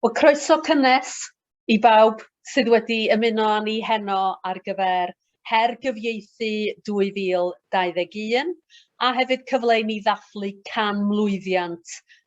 Wel, croeso cynnes i bawb sydd wedi ymuno â ni heno ar gyfer Her Gyfieithu 2021 a hefyd cyfle i ni ddathlu can mlwyddiant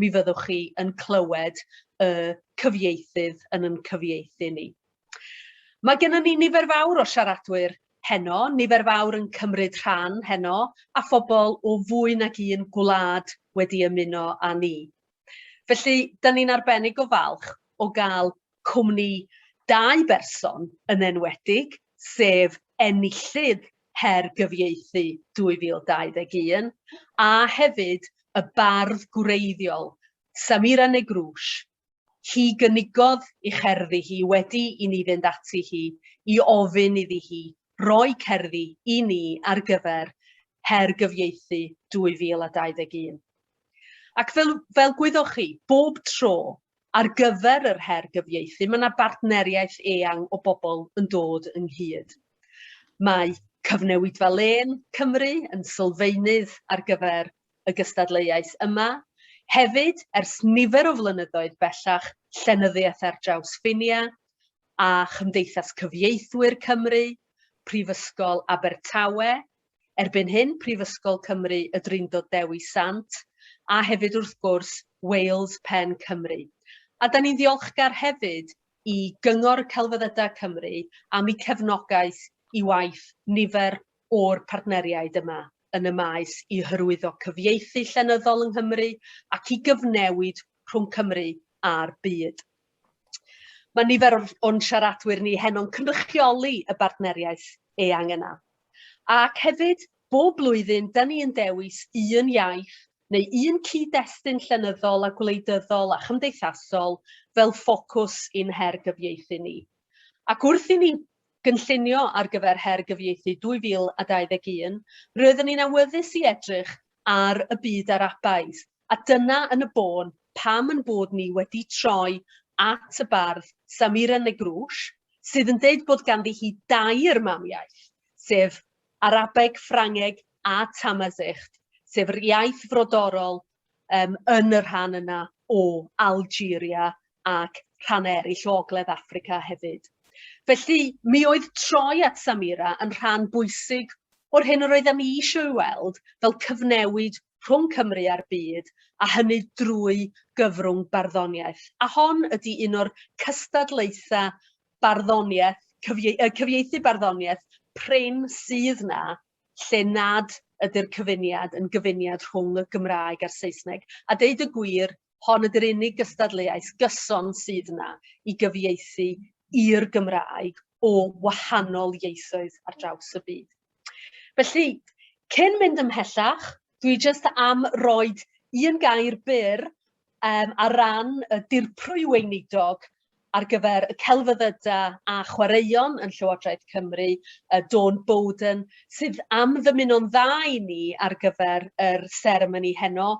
mi fyddwch chi yn clywed y cyfieithydd yn yn cyfieithu ni. Mae gennym ni nifer fawr o siaradwyr heno, nifer fawr yn cymryd rhan heno, a phobl o fwy nag un gwlad wedi ymuno â ni. Felly, dyn ni'n arbennig o falch o gael cwmni dau berson yn enwedig, sef enillydd Her Gyfieithu 2021 a hefyd y bardd gwreiddiol, Samira Negrouche. Hi gynigodd i cherddi hi wedi i ni fynd ati hi i ofyn iddi hi roi cerddi i ni ar gyfer Her Gyfieithu 2021. Ac fel, fel gwyddoch chi, bob tro Ar gyfer yr her gyfieithu, mae yna bartneriaeth eang o bobl yn dod ynghyd. Mae Cyfnewidfa Lên Cymru yn sylfaenydd ar gyfer y gystadleuaeth yma. Hefyd, ers nifer o flynyddoedd bellach, Llenyddiaeth ar Draws Ffinia a Chymdeithas Cyfieithwyr Cymru, Prifysgol Abertawe, Erbyn hyn, Prifysgol Cymru Y Drindod Dewi Sant, a hefyd wrth gwrs, Wales Pen Cymru. A da ni'n ddiolchgar hefyd i Gyngor y Celfyddydau Cymru am eu cefnogaeth i waith nifer o'r partneriaid yma yn y maes i hyrwyddo cyfieithu llenyddol yng Nghymru ac i gyfnewid rhwng Cymru a'r byd. Mae nifer o'n siaradwyr ni heno'n cynrychioli y bartneriaeth eang yna. Ac hefyd, bob blwyddyn, da ni yn dewis un iaith neu un cyd-destun llenyddol a gwleidyddol a chymdeithasol fel ffocws i'n her gyfieithu ni. Ac wrth i ni gynllunio ar gyfer Her Gyfieithu 2021, roedden ni'n awyddus i edrych ar y byd Arabaidd, A dyna yn y bôn pam yn bod ni wedi troi at y bardd Samira Negroush, sydd yn deud bod ganddi hi dair mamiaith, sef Arabeg, Ffrangeg a Tamazicht, sef yr iaith frodorol um, yn y rhan yna o Algeria ac rhan eraill o Ogledd Africa hefyd. Felly, mi oedd troi at Samira yn rhan bwysig o'r hyn yr oeddem i eisiau ei weld fel cyfnewid rhwng Cymru a'r byd, a hynny drwy gyfrwng barddoniaeth. A hon ydi un o'r cystadlaetha barddoniaeth, cyfie, uh, cyfieithu barddoniaeth prin sydd na, lle nad ydy'r cyfuniad yn gyfuniad rhwng y Gymraeg a'r Saesneg. A deud y gwir, hon ydy'r unig gystadleuaeth gyson sydd yna i gyfieithu i'r Gymraeg o wahanol ieithoedd ar draws y byd. Felly, cyn mynd ymhellach, dwi jyst am roed un gair byr um, ar ran y dirprwy weinidog ar gyfer y celfyddydau a chwaraeon yn Llywodraeth Cymru, uh, Dawn Bowden, sydd am ddymuno'n dda i ni ar gyfer yr seremoni heno,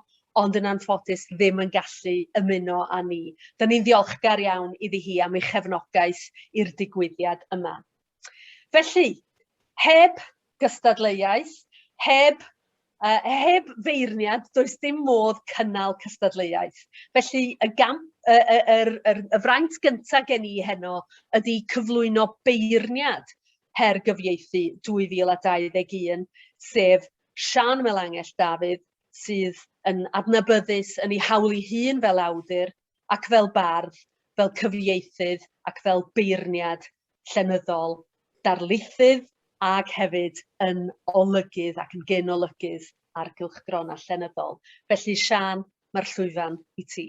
ond yn anffodus ddim yn gallu ymuno â ni. Dyna ni'n ddiolchgar iawn iddi hi am ei chefnogaeth i'r digwyddiad yma. Felly, heb gystadleuaeth, heb uh, heb feirniad, does dim modd cynnal cystadleuaeth. Felly, y, gamp, y, y, y, y, y fraint gyntaf gen i heno ydy cyflwyno beirniad her gyfieithu 2021, sef Sian Melangell Dafydd, sydd yn adnabyddus yn ei hawl ei hun fel awdur ac fel bardd, fel cyfieithydd ac fel beirniad llenyddol, darlithydd ac hefyd yn olygydd ac yn genolygydd ar gylchgronau llenyddol. Felly, Siân, mae'r llwyfan i ti.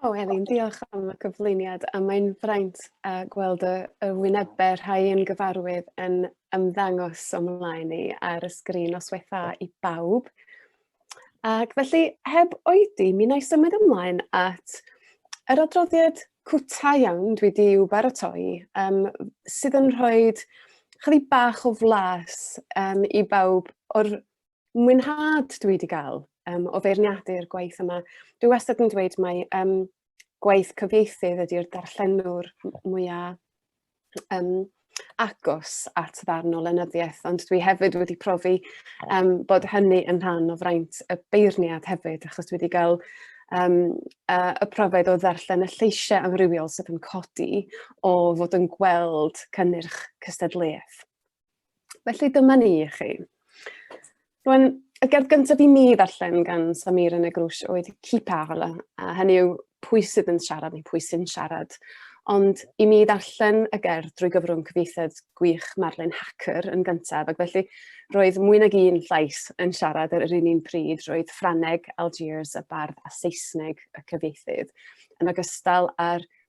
O, Elin, diolch am y cyflwyniad a mae'n fraint a gweld y, y wynebau rhai yn gyfarwydd yn ymddangos o'm mlaen i ar y sgrin os wetha i bawb. Ac felly, heb oedi, mi wna i symud ymlaen at yr adroddiad cwta iawn dwi di i'w baratoi, um, sydd yn rhoi chydig bach o flas um, i bawb o'r mwynhad dwi wedi cael um, o feirniadu'r gwaith yma. Dwi wastad yn dweud mae um, gwaith cyfieithydd ydy'r darllenwr mwyaf um, agos at ddarn o lenyddiaeth, ond dwi hefyd wedi profi um, bod hynny yn rhan o fraint y beirniad hefyd, achos dwi wedi cael um, uh, y profiad o ddarllen y lleisiau amrywiol sydd yn codi o fod yn gweld cynnyrch cystadleuaeth. Felly dyma ni i chi. Rwy'n y gerdd gyntaf i mi ddarllen gan Samir yn y grwys oedd Qui parle, a hynny yw pwy sydd yn siarad neu pwy sy'n siarad. Ond i mi ddarllen y gerdd drwy gyfrwng cyfieithiad gwych Marlin Hacker yn gyntaf, ac felly roedd mwy nag un llais yn siarad ar yr un un pryd, roedd Ffraneg, Algiers, y bardd a Saesneg y cyfieithydd, yn ogystal â'r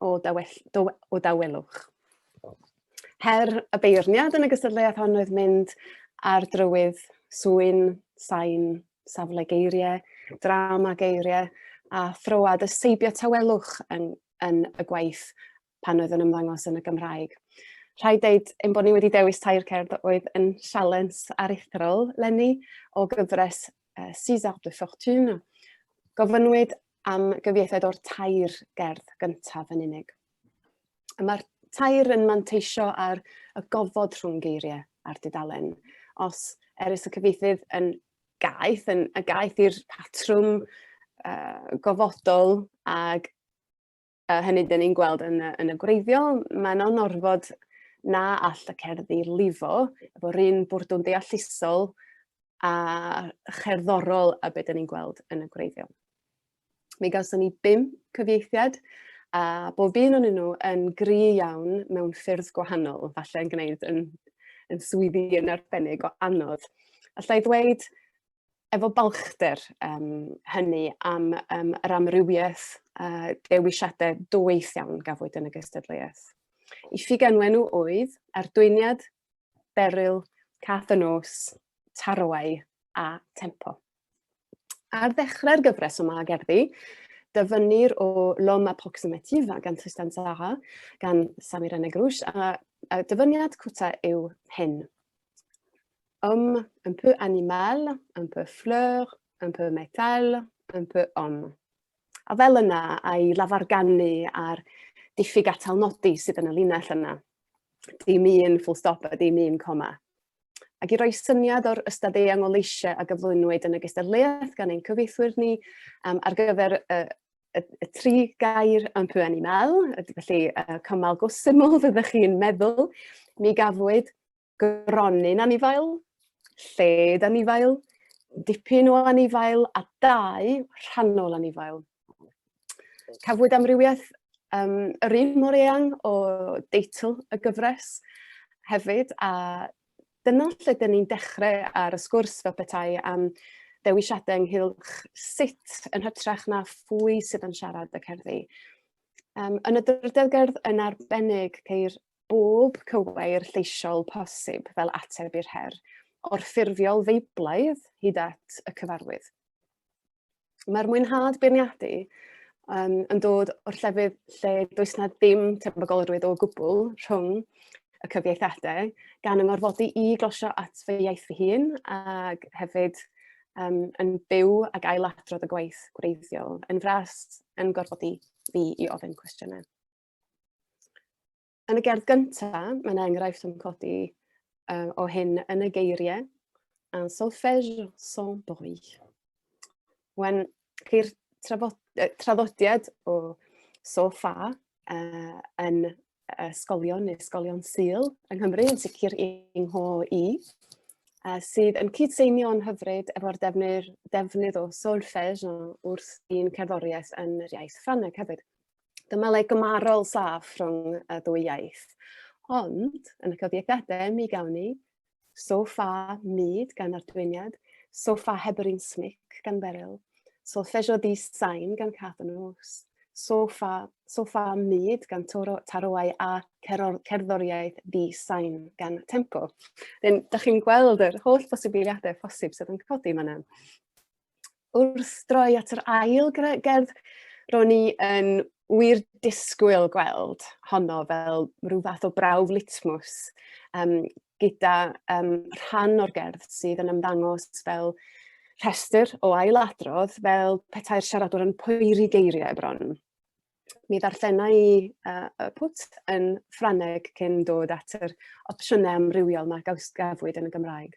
o, dawell, do, o dawelwch. Her y beirniad yn y gystadleuaeth hon oedd mynd ar drywydd swyn, sain, safle geiriau, drama geiriau a throad y seibio tawelwch yn, yn y gwaith pan oedd yn ymddangos yn y Gymraeg. Rhaid dweud ein bod ni wedi dewis tair cerdd oedd yn sialens aruthrol lenni o gyfres uh, César de Fortune. Gofynwyd am gyfieithiad o'r tair gerdd gyntaf yn unig. Y mae'r tair yn manteisio ar y gofod rhwng geiriau a'r dudalen. Os erys y cyfieithydd yn gaeth, yn, y gaeth i'r patrwm uh, gofodol ag A hynny dyn ni'n gweld yn y, yn y gwreiddiol, mae yna orfod na all y cerddi lifo efo'r un bwrdwn deallusol a cherddorol a beth dyn ni'n gweld yn y gwreiddiol. Mi gawson ni bum cyfieithiad a bob un o'n nhw yn gri iawn mewn ffyrdd gwahanol, falle yn gwneud yn, yn swyddi yn arbennig o anodd. Alla i ddweud efo balchder um, hynny am um, yr amrywiaeth uh, dewisiadau dwyll iawn gafwyd yn y gystadleuaeth. I ffigenwen nhw oedd ardwyniad, beryl, cath y nos, tarwau a tempo. Ar ddechrau'r gyfres yma gerddi, dyfynnir o L'homme approximatif gan Tristan Zara, gan Samir Enegrush, a, a dyfyniad cwta yw hyn. homme, un peu animal, un peu fleur, un peu métal, un peu homme. A fel yna, a'i lafargannu a'r diffyg atal nodi sydd yn y linell yna. Dim un full stop a dim un coma. Ac i roi syniad o'r ystad eang o leisiau a gyflwynwyd yn y gystadleuaeth gan ein cyfeithwyr ni um, ar gyfer y, y, y tri gair yn pwy animal, felly uh, cymal go syml fyddwch chi'n meddwl, mi gafwyd gronyn anifail, lled anifail, dipyn o anifail a dau rhannol anifail. Cafwyd amrywiaeth um, yr un mor eang o deitl y gyfres hefyd a dyna lle dyn ni'n dechrau ar y sgwrs fel petai am dewisiadau ynghylch sut yn hytrach na phwy sydd yn siarad y cerddi. Um, yn y drydydd gerdd yn arbennig ceir bob cywair lleisiol posib fel ateb i'r her, o'r ffurfiol feiblaidd hyd at y cyfarwydd. Mae'r mwynhad beirniadu um, yn dod o'r llefydd lle does na ddim tebygolrwydd o gwbl rhwng y cyfieithadau, gan yng ngorfodi i glosio at fy iaith fy hun ac hefyd um, yn byw ac ailadrodd y gwaith gwreiddiol, yn fras yn gorfodi fi i ofyn cwestiynau. Yn y gerdd gyntaf, mae'n enghraifft yn codi uh, o hyn yn y geiriau. Un solfège sans bruit. Wen, ceir traddodiad o sofa uh, yn ysgolion neu ysgolion syl yng Nghymru, yn sicr yng ngho i, uh, sydd yn cydseinio'n hyfryd efo'r defnydd, defnydd o solfège wrth i'n cerddoriaeth yn yr iaith Ffrangeg hefyd. Dyma le gymarol saff rhwng y ddwy iaith. Ond, yn y cyfiegdadau, mi gawn ni so fa myd gan ardwyniad, so fa heb yr un smic gan Beryl, so lleisio di sain gan Cath yn Ws, so fa, so fa myd gan toro, taroau a ceror, cerddoriaeth di sain gan Temco. Dyn, da chi'n gweld yr holl bosibiliadau posib sydd yn codi yma. wrth droi at yr ail gerdd, ro'n i yn wir disgwyl gweld honno fel rhyw fath o brawf litmus um, gyda um, rhan o'r gerdd sydd yn ymddangos fel rhestr o ailadrodd fel petai'r siaradwr yn poeri geiriau bron. Mi ddarllena i uh, y pwt yn Ffraneg cyn dod at yr opsiynau amrywiol mae gawsgafwyd yn y Gymraeg.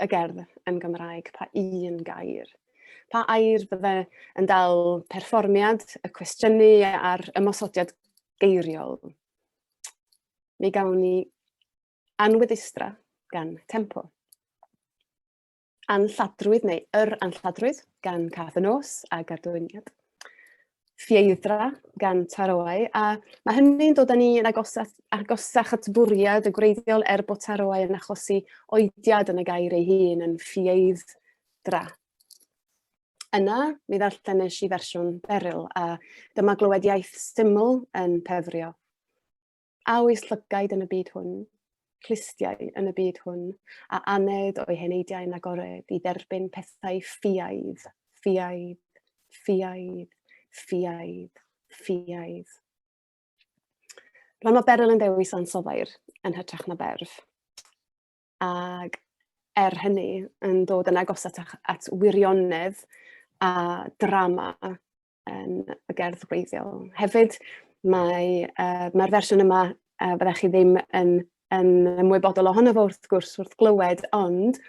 y gerdd yn Gymraeg, pa un gair. Pa air bydde yn dal perfformiad, y cwestiynu a'r ymosodiad geiriol. Mi gawn ni anweddustra gan tempo. Anlladrwydd neu yr anlladrwydd gan Cath y Nos a Gadwyniad. ffieidra gan taroau, a mae hynny'n dod â ni yn agosach, agosach at bwriad y gwreiddiol er bod taroau yn achosi oediad yn y gair ei hun yn ffieidra. Yna, mi ddarllenis i fersiwn Beryl, a dyma glywed iaith syml yn pefrio. A oes llygaid yn y byd hwn, clustiau yn y byd hwn, a aned o'i heneidiau yn agored i dderbyn pethau ffiaidd, ffiaidd, ffiaidd, ffiaidd, ffiaidd. Rhan o Beryl yn dewis ansoddair yn hytrach na berf. Ac er hynny, yn dod yn agos at, at wirionedd a drama um, y gerdd gwreiddiol. Hefyd, mae, uh, mae'r fersiwn yma, uh, byddech chi ddim yn, yn ymwybodol ohono fo wrth gwrs wrth glywed, ond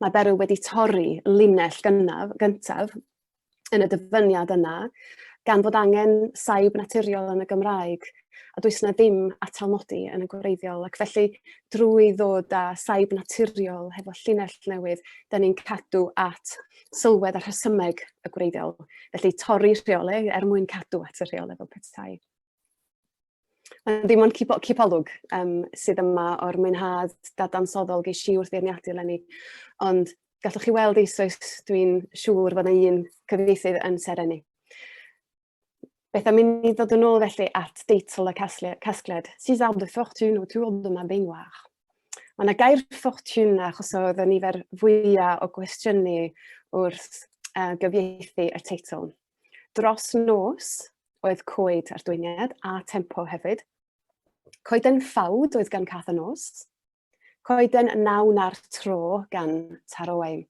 mae Beryl wedi torri linell gynnaf, gyntaf yn y dyfyniad yna, gan fod angen saib naturiol yn y Gymraeg, a does yna ddim atalmodi yn y gwreiddiol. Ac felly, drwy ddod â saib naturiol hefo llinell newydd, da ni'n cadw at sylwedd a rhesymeg y gwreiddiol. Felly torri rheolau er mwyn cadw at y rheolau fel petai. Ond dim ond cipolwg um, sydd yma o'r mwynhad dadansoddol geis i wrth feirniadu eleni. Ond gallwch chi weld eisoes, dwi'n siŵr fod yna un cyfieithydd yn serenu. Beth am i ni ddod yn ôl felly at deitl y casgliad, Six arbres de fortune autour de ma baignoire. Mae yna gair ffortiwn na achosodd y nifer fwyaf o gwestiynu wrth uh, gyfieithu y teitl. Dros nos oedd coed a'r dwyniad a tempo hefyd. Coeden ffawd oedd gan cath y nos, Coeden nawn ar tro gan Taro Owain.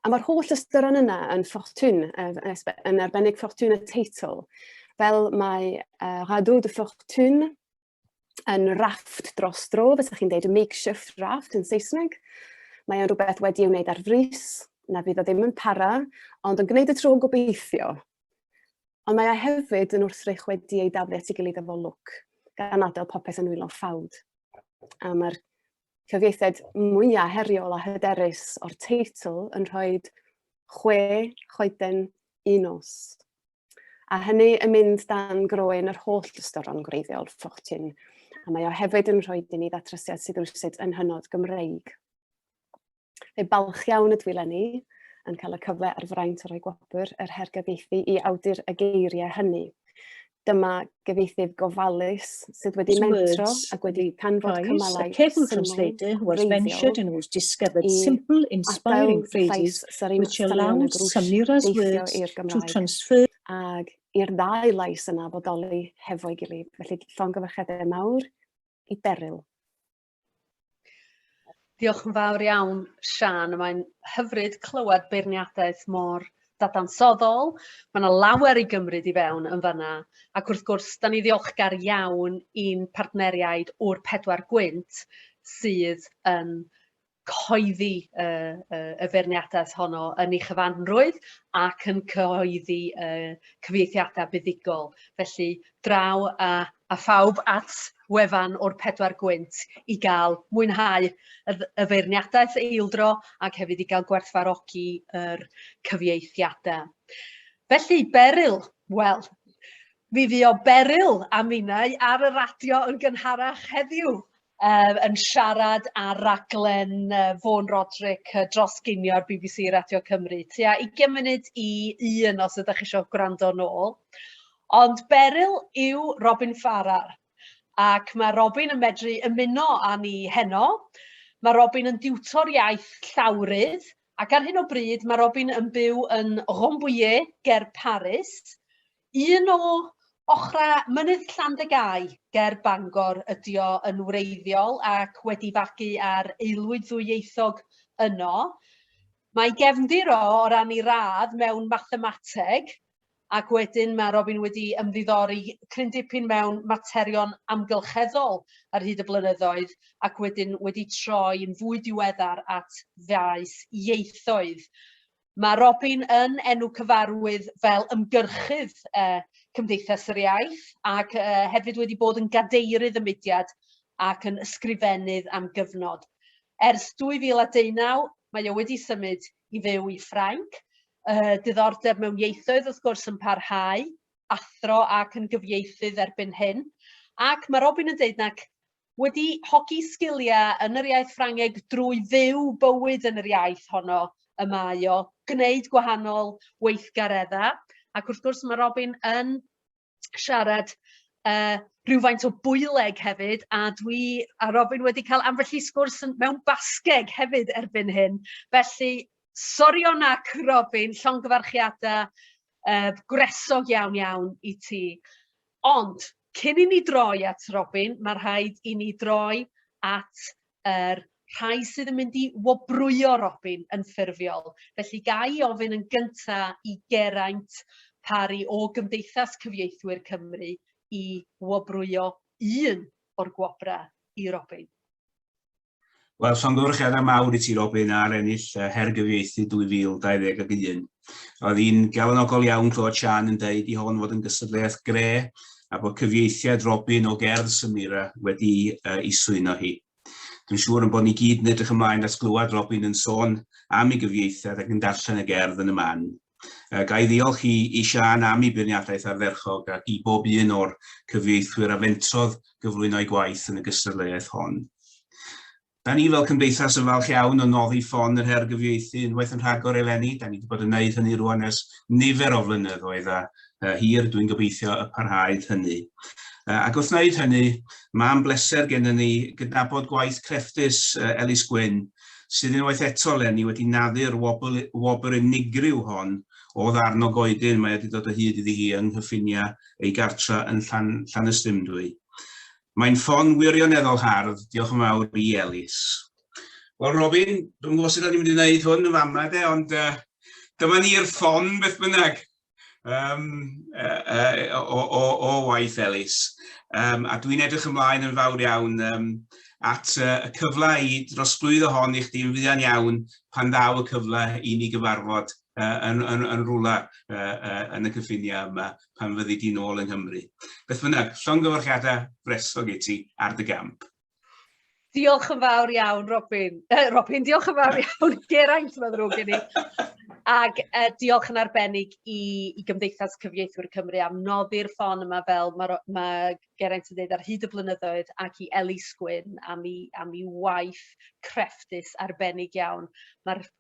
A mae'r holl ystyron yna yn ffortwn, yn arbennig ffortwn y teitl, fel mae uh, Rado de Fortune yn rafft dros dro, fysach chi'n deud makeshift raft yn Saesneg. Mae o'n rhywbeth wedi ei wneud ar frys, na fydd o ddim yn para, ond yn gwneud y tro gobeithio. Ond mae e hefyd yn wrthrych wedi ei daflu at ei gilydd efo lwc, gan adael popeth yn wylo ffawd. A mae'r cyfieithiad mwyaf heriol a hyderus o'r teitl yn rhoi chwe choeden un nos. A hynny yn mynd dan groen yr holl ystoron gwreiddiol ffochtin, a mae o hefyd yn rhoi i ni ddatrasiad sydd rhywsut yn hynod Gymreig. Fe balch iawn ydw i lenni yn cael y cyfle ar fraint o roi gwobr yr her gyfeithi i awdur y geiriau hynny. Dyma gyfeitydd gofalus sydd wedi mentro ac wedi canfod cymalau syml, mentioned and was discovered simple, inspiring phrases which allowed Samira's words to transfer ag i'r ddau lais yna fodoli hefo'i gilydd. Felly, llongyfarchiadau mawr i Beryl. Diolch yn fawr iawn, Siân. Mae'n hyfryd clywed beirniadaeth mor dadansoddol. Mae yna lawer i gymryd i fewn yn fanna. Ac wrth gwrs, da ni ddiolchgar iawn i'n partneriaid o'r pedwar gwynt sydd yn cyhoeddi y, y, y feirniadaeth honno yn ei chyfanrwydd ac yn cyhoeddi y cyfieithiadau buddigol. Felly, draw a a phawb at wefan o'r pedwar gwynt i gael mwynhau y feirniadaeth eildro ac hefyd i gael gwerthfarogi yr cyfieithiadau. Felly, Beryl, wel, mi fu o Beryl a minnau ar y radio yn gynharach heddiw um, yn siarad ar raglen uh, Fôn Roderick uh, dros ginio'r BBC Radio Cymru. Tua 20 munud i un os ydych chi eisiau gwrando nôl. Ond Beryl yw Robin Farrar ac mae Robin yn medru ymuno â ni heno. Mae Robin yn diwtor iaith llawrydd ac ar hyn o bryd mae Robin yn byw yn Rambouillet ger Paris. Un o ochrau Mynydd Llandegau ger Bangor ydy o yn wreiddiol ac wedi fagu ar aelwyd ddwyieithog yno. Mae gefndir o o ran ei radd mewn mathemateg ac wedyn mae Robin wedi ymddiddori cryn dipyn mewn materion amgylcheddol ar hyd y blynyddoedd ac wedyn wedi troi yn fwy diweddar at faes ieithoedd. Mae Robin yn enw cyfarwydd fel ymgyrchydd uh, Cymdeithas yr Iaith ac uh, hefyd wedi bod yn gadeirydd y mudiad ac yn ysgrifennydd am gyfnod. Ers 2019, mae o wedi symud i fyw i Ffrainc. Uh, diddordeb mewn ieithoedd wrth gwrs yn parhau, athro ac yn gyfieithydd erbyn hyn. Ac mae Robin yn dweud nac wedi hogi sgiliau yn yr iaith Ffrangeg drwy fyw bywyd yn yr iaith honno y mae o, gwneud gwahanol weithgareddau. Ac wrth gwrs mae Robin yn siarad uh, rhywfaint o bwyleg hefyd, a dwi a Robin wedi cael ambell i sgwrs mewn basgeg hefyd erbyn hyn. Felly, sorion ac Robin, llongyfarchiadau Yy gwresog iawn iawn i ti. Ond cyn i ni droi at Robin ma' rhaid i ni droi at yr rhai sydd yn mynd i wobrwyo Robin yn ffurfiol. Felly ga i ofyn yn gynta i Geraint Parry o Gymdeithas Cyfieithwyr Cymru i wobrwyo un o'r gwobra i Robin. Wel, llongyfarchiadau mawr i ti Robin ar ennill uh, Her Gyfieithu 2021. Oedd hi'n galonogol iawn clywed Sian yn dweud i hon fod yn gystadleuaeth gre a bod cyfieithiad Robin o gerdd Samira wedi uh, i swyno hi. Dwi'n siŵr yn bod ni gyd yn edrych ymlaen at glywed Robin yn sôn am ei gyfieithiad ac yn darllen y gerdd yn y man. Uh, ga i ddiolch i, i Sian am ei beirniadaeth ardderchog ac i bob un o'r cyfieithwyr a fentrodd gyflwyno'i gwaith yn y gystadleuaeth hon. Da ni fel cymdeithas yn falch iawn o noddi ffon yr her gyfieithu unwaith yn rhagor eleni. Da ni wedi bod yn gwneud hynny rwan ers nifer o flynyddoedd a uh, hir dwi'n gobeithio y parhaid hynny. Uh, ac wrth wneud hynny, mae'n bleser gennym ni gydnabod gwaith crefftus uh, Elis Gwyn sydd unwaith eto eleni wedi naddu'r wobl, wobr unigryw hon o ddarn o goedyn mae wedi dod o hyd iddi hi yng nghyffiniau ei gartra yn Llan, Llanystumdwy. Mae'n ffon wirioneddol hardd, diolch yn fawr i Elis. Wel Robin, dwi'n gwybod sut o'n i'n mynd i wneud hwn yn fama de, ond uh, dyma ni'r ffon beth bynnag. um, uh, uh, o, o, o waith Elis. Um, a dwi'n edrych ymlaen yn fawr iawn um, at uh, y cyfle i drosglwyddo hon i chdi'n fuan iawn pan ddaw y cyfle i ni gyfarfod uh, yn, yn, yn rhywle uh, uh, yn y cyffiniau yma pan fyddi di'n ôl yng Nghymru. Beth bynnag, llongyfarchiadau bresog i ti ar dy gamp. Diolch yn fawr iawn, Robin. Uh, Robin, diolch yn fawr iawn, Geraint, mae'n ddrwg gen i. Ac uh, diolch yn arbennig i, i Gymdeithas Cyfieithwyr Cymru am noddi'r ffon yma fel mae ma Geraint yn dweud ar hyd y blynyddoedd ac i Elis Gwyn am i, am i waith crefftus arbennig iawn. Mae'r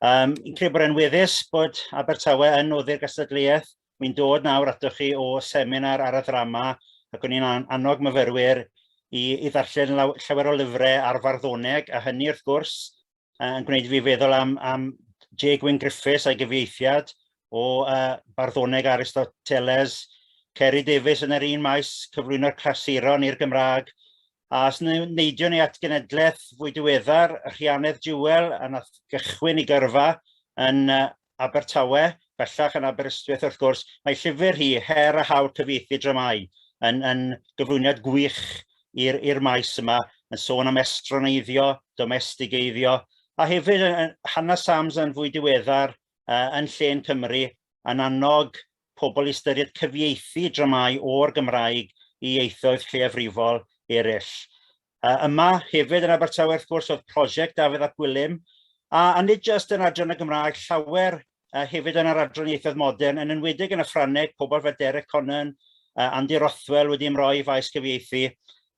Um, yn credu bod e'n weddus bod Abertawe yn noddi'r gystadleuaeth. Mi'n dod nawr atoch chi o seminar ar y ddrama ac o'n i'n annog myfyrwyr i, i ddarllen llawer o lyfrau ar farddoneg a hynny wrth gwrs yn gwneud fi feddwl am, am J. Gwyn Griffiths a'i gyfieithiad o uh, barddoneg Aristoteles, Ceri Davies yn yr un maes cyflwyno'r clasuron i'r Gymraeg A os neidiwn ni at genedlaeth fwy diweddar, Rhianedd Jewell, a nath gychwyn i gyrfa yn Abertawe, bellach yn Aberystwyth wrth gwrs, mae llyfr hi, Her a Hawl Cyfieithu Dramâu, yn, yn gyflwyniad gwych i'r maes yma, yn sôn am estroneiddio, domestigeiddio, a hefyd Hannah Sams yn fwy diweddar uh, yn llên Cymru, yn annog pobl i ystyried cyfieithu dramâu o'r Gymraeg i ieithoedd lleiafrifol eraill. Uh, yma hefyd yn Abertawe wrth gwrs oedd prosiect Dafydd ap Gwilym, a, a nid jyst yn adran y Gymraeg, llawer uh, hefyd yn yr adran ieithoedd modern, yn enwedig yn y Ffrangeg, pobl fel Derek Conan, uh, Andy Rothwell wedi ymroi i faes cyfieithu.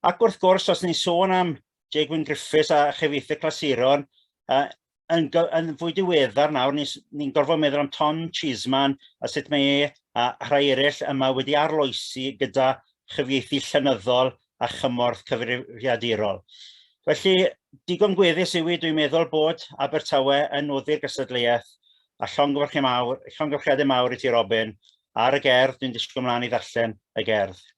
Ac wrth gwrs, os ni'n sôn am Jay Gwyn Griffiths a chyfieithu clasuron, uh, yn, yn fwy diweddar nawr ni'n gorfod meddwl am Tom Cheeseman a sut mae e a rhai eraill yma wedi arloesi gyda chyfieithu llenyddol a chymorth cyfrifiadurol. Felly, digon gweddus yw i dwi'n meddwl bod Abertawe yn noddi'r gystadleuaeth a llongyfarchiadau mawr, llongyfarchiadau mawr i ti Robin ar y gerdd, dwi'n disgwyl mlaen i ddarllen y gerdd.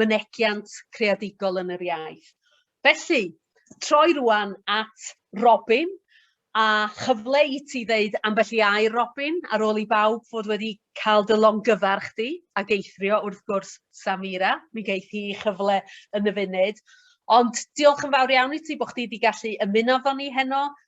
mynegiant creadigol yn yr iaith. Felly, troi rwan at Robin, a chyfle i ti ddeud ambell i air, Robin, ar ôl i bawb fod wedi cael dy longyfarch di, ac eithrio wrth gwrs Samira, mi geith hi chyfle yn y funud. Ond diolch yn fawr iawn i ti bod chdi wedi gallu ymuno efo ni heno,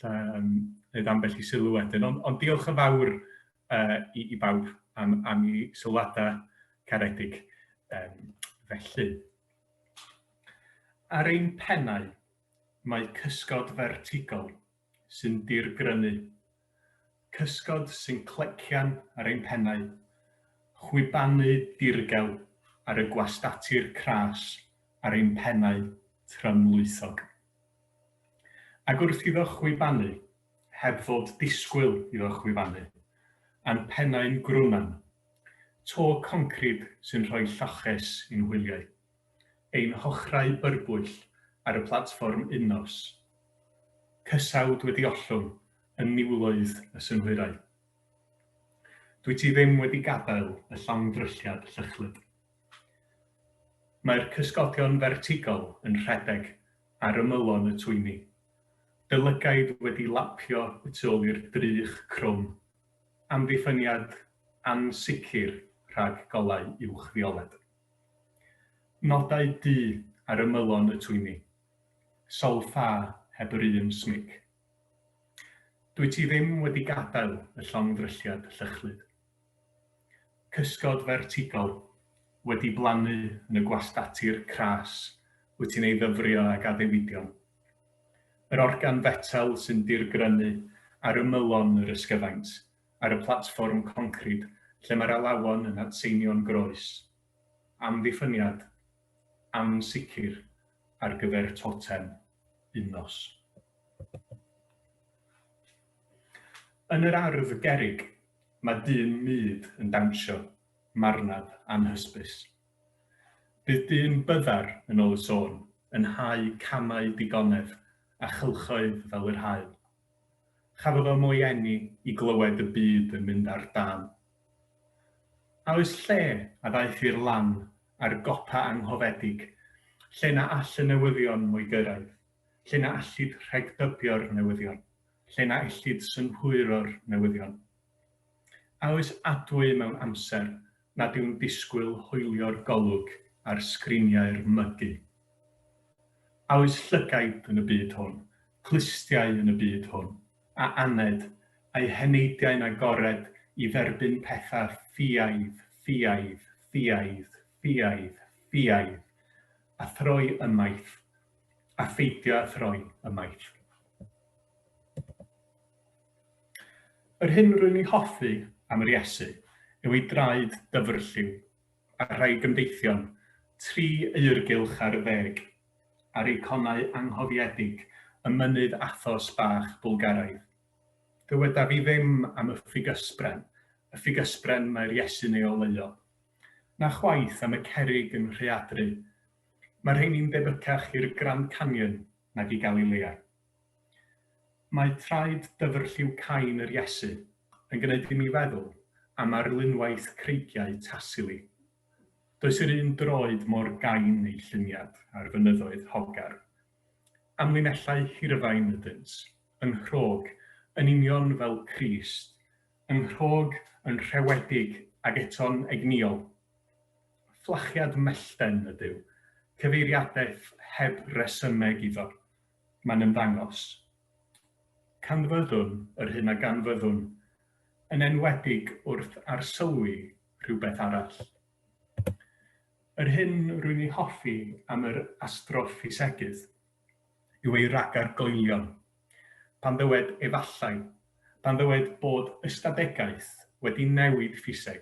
Lle yn neud ambell i sylw wedyn. Ond, ond diolch yn fawr uh, i, i bawb am, am i sylwadau caredig um, felly. Ar ein pennau, mae cysgod fertigol sy'n dirgrynu. Cysgod sy'n clecian ar ein pennau. Chwibanu dirgel ar y gwastatir cras ar ein pennau trymlwythog. Ac wrth iddo chwibanu, heb fod disgwyl iddo chwibanu, â'n pennau'n grwnan, to concrid sy'n rhoi lloches i'n hwyliau, ein hochrau byrbwyll ar y platfform unnos, cysawd wedi ollwng yn niwloedd y synhwyrau. Dwyt ti ddim wedi gadael y llongddrylliad llychlyd. Mae'r cysgodion fertigol yn rhedeg ar ymylon y twyni, y lygaid wedi lapio y tu ôl i'r drych crwm, amddiffyniad ansicr rhag golau uwchfioled. Nodau du ar ymylon y twyni, sawl ffa heb yr un smyg. Dwyt ti ddim wedi gadael y llongddrylliad llychlyd. Cysgod fertigol, wedi blannu yn y gwastatir cras wyt ti'n ei ddyfrio ag addewidion. Yr organ fetel sy'n dirgrynu ar ymylon yr ysgyfaint ar y platfform concrid lle mae'r alawon yn adseinio'n groes. Amddiffyniad ansicr ar gyfer totem un nos. Yn yr ardd gerrig, mae dyn mud yn dawnsio, marnad anhysbys. Bydd dyn byddar, yn ôl y sôn, yn hau camau digonedd a chylchoedd fel yr haul. Chafodd o mo'i eni i glywed y byd yn mynd ar dân. A oes lle a ddaeth i'r lan a'r gopa anghofedig, lle na all y newyddion mo'i gyrraedd? lle na allid rhegdybio'r newyddion, lle na ellid synhwyro'r newyddion. A oes adwy mewn amser nad yw'n disgwyl hoelio'r golwg ar sgriniau'r mygi? A oes llygaid yn y byd hwn, clustiau yn y byd hwn, a aned, a'u heneidiau'n agored i dderbyn pethau ffiaidd, ffiaidd, ffiaidd, ffiaidd, ffiaidd, a throi ymaith, a pheidio â throi ymaith. Yr hyn rwy'n ei hoffi am yr Iesu yw ei draed dyfrlliw a rhai gymdeithion tri eirgylch ar y ddeg a'r eiconau anghofiedig y mynydd athos bach Bwlgaraidd. Dywedaf i ddim am y ffug ysbren, y ffug ysbren mae'r Iesu'n ei oleuo, na chwaith am y cerrig yn rheadru Mae'r rheini'n debycach i'r Grand Canyon nag i Galilea. Mae traed dyfr lliw cain yr Iesu yn gwneud i mi feddwl am arlunwaith creigiau Tassili. Does yr un droed mor gain ei lluniad ar fynyddoedd Hogar. Amlinellau hirfain ydynt, yn nghrog, yn union fel Crist, yn nghrog, yn rhewedig, ac eto'n egnïol. Fflachiad mellten ydyw. Cyfeiriadaeth heb resymeg iddo. Mae'n ymddangos. Canfyddwn yr hyn a ganfyddwn, yn enwedig wrth arsylwi rhywbeth arall. Yr hyn rwy'n ei hoffi am yr astroffisegydd yw ei ragar goelion. Pan ddywed 'efallai', pan ddywed bod ystadegaeth wedi newid ffiseg,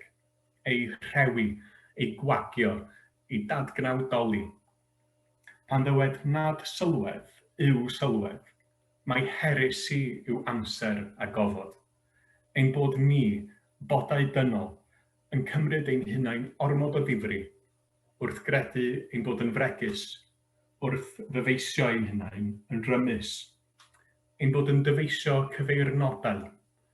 eu rhewi, eu gwagio, eu dadgnawdoli. Pan ddywed nad sylwedd yw sylwedd, mai heresi yw amser a gofod. Ein bod ni, bodau dynol, yn cymryd ein hunain ormod o ddifri, wrth gredu ein bod yn fregus, wrth ddyfeisio ein hunain yn rymus, ein bod yn dyfeisio cyfeirnodau,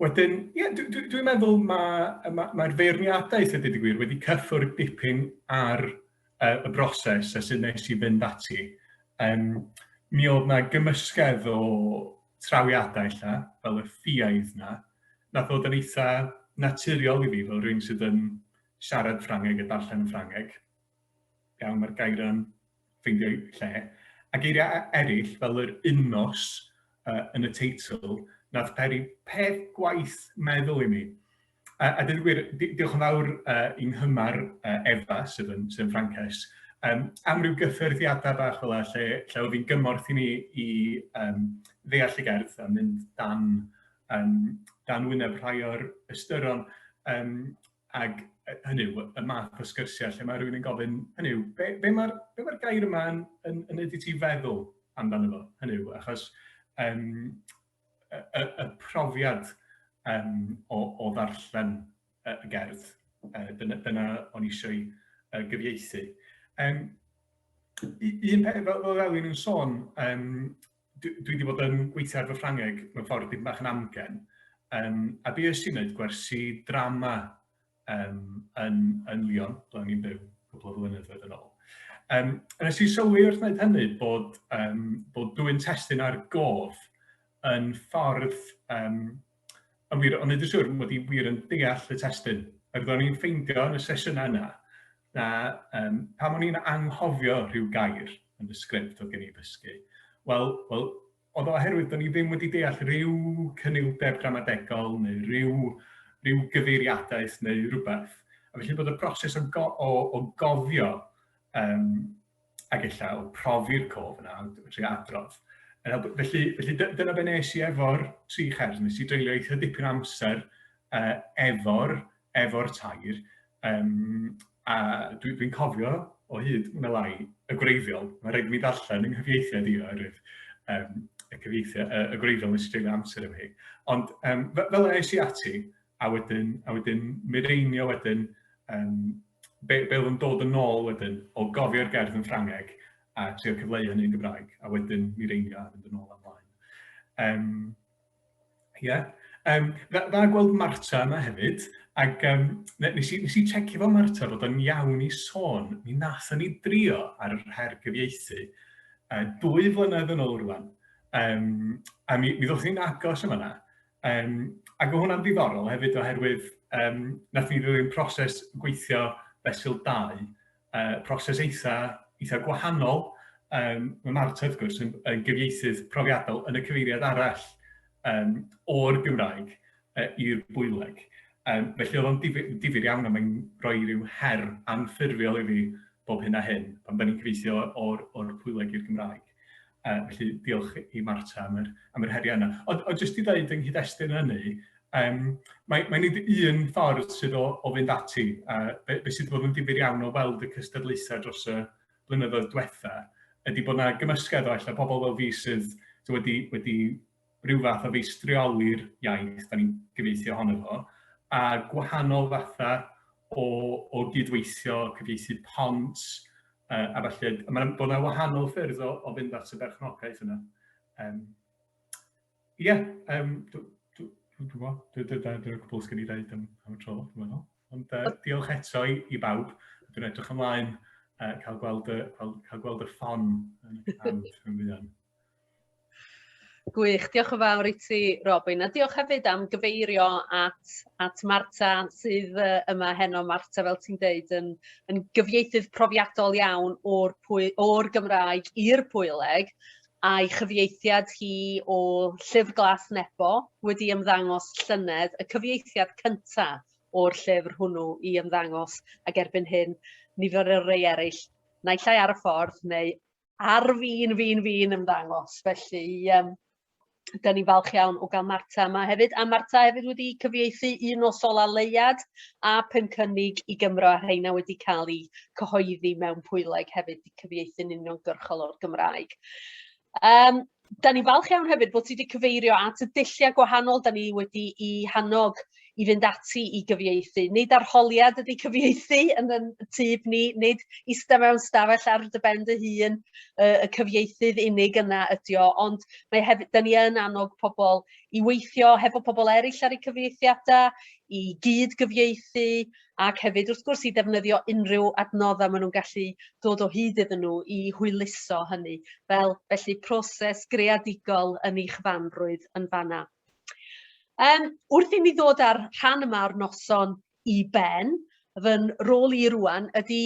Wedyn, ie, dwi, dwi, dwi'n meddwl mae'r ma, ma feirniadau, lle dweud y gwir, wedi cyffwrdd dipyn ar uh, y broses a sydd nes i fynd ati. Um, mi oedd na gymysgedd o trawiadau lla, fel y ffiaidd na, na ddod yn eitha naturiol i fi, fel rhywun sydd yn siarad Ffrangeg a darllen yn Ffrangeg. Iawn, mae'r gair yn ffeindio lle. A geiriau eraill, fel yr unnos uh, yn y teitl, nath peri peth gwaith meddwl i mi. A, a dweud gwir, diolch yn fawr uh, i nghymar uh, Efa, sydd yn, sydd yn Frances, um, am ryw gyffyrddiadau bach fel lle, lle oedd hi'n gymorth i ni i um, ddeall y gerdd a mynd dan, um, dan wyneb rhai o'r ystyron. Um, Ac hynny yw, y math o sgyrsiau lle mae rhywun yn gofyn, hynny yw, be, be mae'r be ma gair yma yn, yn, yn ydy ti feddwl amdano fo? Hynny yw, achos um, y, y, y profiad um, o, o ddarllen y gerdd, uh, dyna, dyna o'n eisiau uh, gyfieithu. Um, un peth, fel, fel Elin yn sôn, um, dwi, dwi wedi bod yn gweithio ar fy Ffrangeg mewn ffordd dipyn bach yn amgen, um, a be ys i'n gwneud gwersi drama um, yn, yn Lyon, ble o'n i'n byw cwbl o flynyddoedd yn ôl. Um, a nes i sylwi wrth wneud hynny bod, um, bod dwy'n testyn ar gof yn ffordd um, Yn wir, o'n i ddim siŵr mod i wir yn deall y testun. Ac ro'n i'n ffeindio yn y sesiynau yna, na um, pam o'n i'n anghofio rhyw gair yn y sgript oedd gen i ddysgu. Wel, wel oedd oherwydd o'n i ddim wedi deall rhyw cynildeb gramadegol neu rhyw, rhyw gyfeiriadaeth neu rhywbeth. A felly bod y broses o, go, o, o gofio um, a gella o profi'r cof yna, ond dwi'n trio adrodd. Felly, felly dyna be nes i efo'r tri chers, nes i dreulio eitha dipyn amser uh, efo'r efo tair, um, a dwi'n dwi cofio o hyd yn y lai y gwreiddiol, mae rhaid mi ddarllen yng nghyfieithiad i oherwydd um, y, cyfieithiad, y, y gwreiddiol nes i dreulio amser efo hi. Ond um, fel yna es i ati, a wedyn, a wedyn mireinio wedyn, um, be, be oedd yn dod yn ôl wedyn, o gofio'r gerdd yn Ffrangeg a trio cyfleu hynny yn Gymraeg, a wedyn mireinio a mynd yn ôl am blaen. Um, yeah. Um, dda, dda gweld Marta yma hefyd, ac um, nes, i, nes i checio fo Marta bod o'n iawn i sôn, mi nath ni drio ar yr her gyfieithu, uh, dwy flynedd yn ôl rwan, um, a mi, mi ddod ni'n agos yma na, Um, ac o hwnna'n ddiddorol hefyd oherwydd um, nath ni ddilyn proses gweithio fesul 2, uh, proses eitha, eitha gwahanol. Um, mae Marta, wrth gwrs, yn, yn gyfieithydd profiadol yn y cyfeiriad arall um, o'r Gymraeg uh, i'r bwyleg. Um, felly oedd o'n difyr, difyr iawn a mae'n rhoi rhyw her anffurfiol i fi bob hyn a hyn pan da ni'n cyfeithio o'r, or pwyleg i'r Gymraeg. Uh, felly, diolch i Marta am yr, am yr heriau yna. Ond, ond jyst i ddweud yng nghyd-destun hynny, um, mae, mae nid un ffordd sydd o, o fynd ati. Uh, be, be sydd wedi bod yn difyr iawn o weld y cystadlaethau dros y blynyddoedd diwetha, ydy bod yna gymysgedd o allan pobl fel fi sydd wedi, wedi rhyw fath o feistrioli'r iaith 'dan ni'n gyfieithu ohono fo, a gwahanol fatha o o gydweithio, cyfieithu pont yy a ballu. A ma' 'na bod 'na wahanol ffyrdd o o fynd at y berchnogaeth yna. Yym ie yym dw- dw- dwi'm yn gwbod, dy- dy- dyna dyna'r cwbwl sgen i ddeud am am y tro dwi'n meddwl. Ond yy diolch eto i i bawb, dwi'n edrych ymlaen yy cael gweld y cael cael gweld y ffon yn y pen rhan fwya. Gwych, diolch yn fawr i ti Robin a diolch hefyd am gyfeirio at at Marta sydd yy yma heno Marta fel ti'n deud yn yn gyfieithydd profiadol iawn o'r pwy o'r Gymraeg i'r Pwyleg a'i chyfieithiad hi o Llyfr Glas Nebo wedi ymddangos llynedd y cyfieithiad cynta o'r llyfr hwnnw i ymddangos ac erbyn hyn nifer o rei eraill naill ai ar y ffordd neu ar fin, fin, fin ymddangos. Felly, um, da ni'n falch iawn o gael Marta yma hefyd. A Marta hefyd wedi cyfieithu un o Sola Leiad a pum cynnig i Gymro a rheina wedi cael eu cyhoeddi mewn pwyleg hefyd i cyfieithu'n uniongyrchol o'r Gymraeg. Um, Dan ni'n falch iawn hefyd bod ti wedi cyfeirio at y dulliau gwahanol dan ni wedi i hannog i fynd ati i gyfieithu. Nid arholiad ydy cyfieithu yn y tyb ni, nid ista mewn stafell ar dy ben dy hun, uh, y cyfieithydd unig yna ydy o, ond mae hefyd, da ni yn annog pobl i weithio hefo pobl eraill ar eu cyfieithiadau, i gyd gyfieithu, ac hefyd wrth gwrs i ddefnyddio unrhyw adnoddau maen nhw'n gallu dod o hyd iddyn nhw i hwyluso hynny, fel felly proses greadigol yn eich fanrwydd yn fanna. Um, wrth i mi ddod ar rhan yma o'r noson i ben, fy rôl i rwan ydy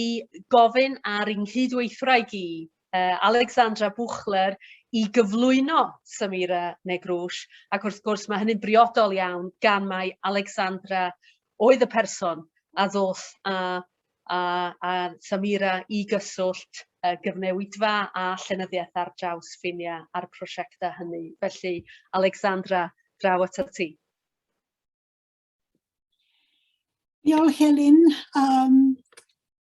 gofyn ar yng nghydweithwraig i, uh, Alexandra Buchler, i gyflwyno Samira Negrwsh, ac wrth gwrs mae hynny'n briodol iawn gan mae Alexandra oedd y person a ddoth â â â Samira i gyswllt y gyfnewidfa a llenyddiaeth ar draws ffiniau a'r prosiectau hynny. Felly, Alexandra, draw atat ti. Diolch Elin. Um,